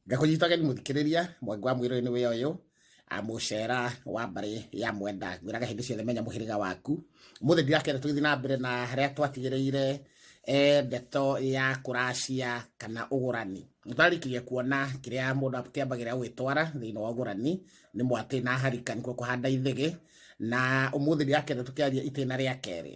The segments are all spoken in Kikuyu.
ngakũnyitageni mũthikĩrĩria mwangi wa mwĩrĩ nĩ wĩyo ũyũ mũcera wa mbarĩ ya mwenda ngwĩraga hĩndĩ ciothe menya mũhĩrĩga waku mũthĩ ndirakenda tũgĩthiĩ na mbere na harĩa twatigĩrĩire eh, ndeto ya kũracia kana ũgũrani ndarĩkirie kuona kĩrĩa mũndũ kĩambagĩrĩra gwĩtwara thĩinĩ wa ũgũrani nĩ mwatĩ na harika nĩkuo kũhanda ithĩgĩ na ũmũthĩ ndirakenda tũkĩaria itĩna rĩa kerĩ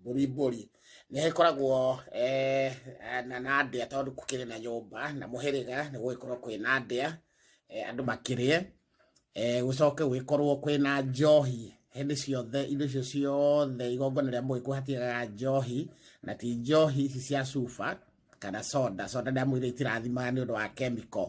mbũri mbũri nĩ ĩkoragwo eh, na na ndĩa tondũ kũkĩrĩ na nyũmba na mũhĩrĩga nĩ gũgĩkorwo kwĩ na ndĩa eh, andũ makĩrĩe eh, gũcoke gũgĩkorwo kwĩ na njohi hĩndĩ ciothe indo icio ciothe igongona rĩa mũgĩkũyũ hatigaga njohi na ti njohi ici cia cuba kana soda soda nĩ amu iria itirathimaga nĩ ũndũ wa chemical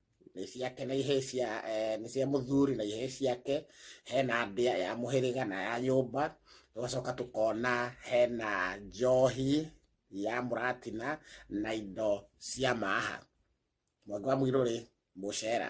nĩ ciake na ihĩĩ cia eh, nĩ cia mũthuri na ihĩĩ ciake hena ndĩa ya mũhĩrĩga na ya nyũmba tũgacoka tũkona hena njohi ya mũratina na indo cia maha mwangi wa mũirũrĩ mũcera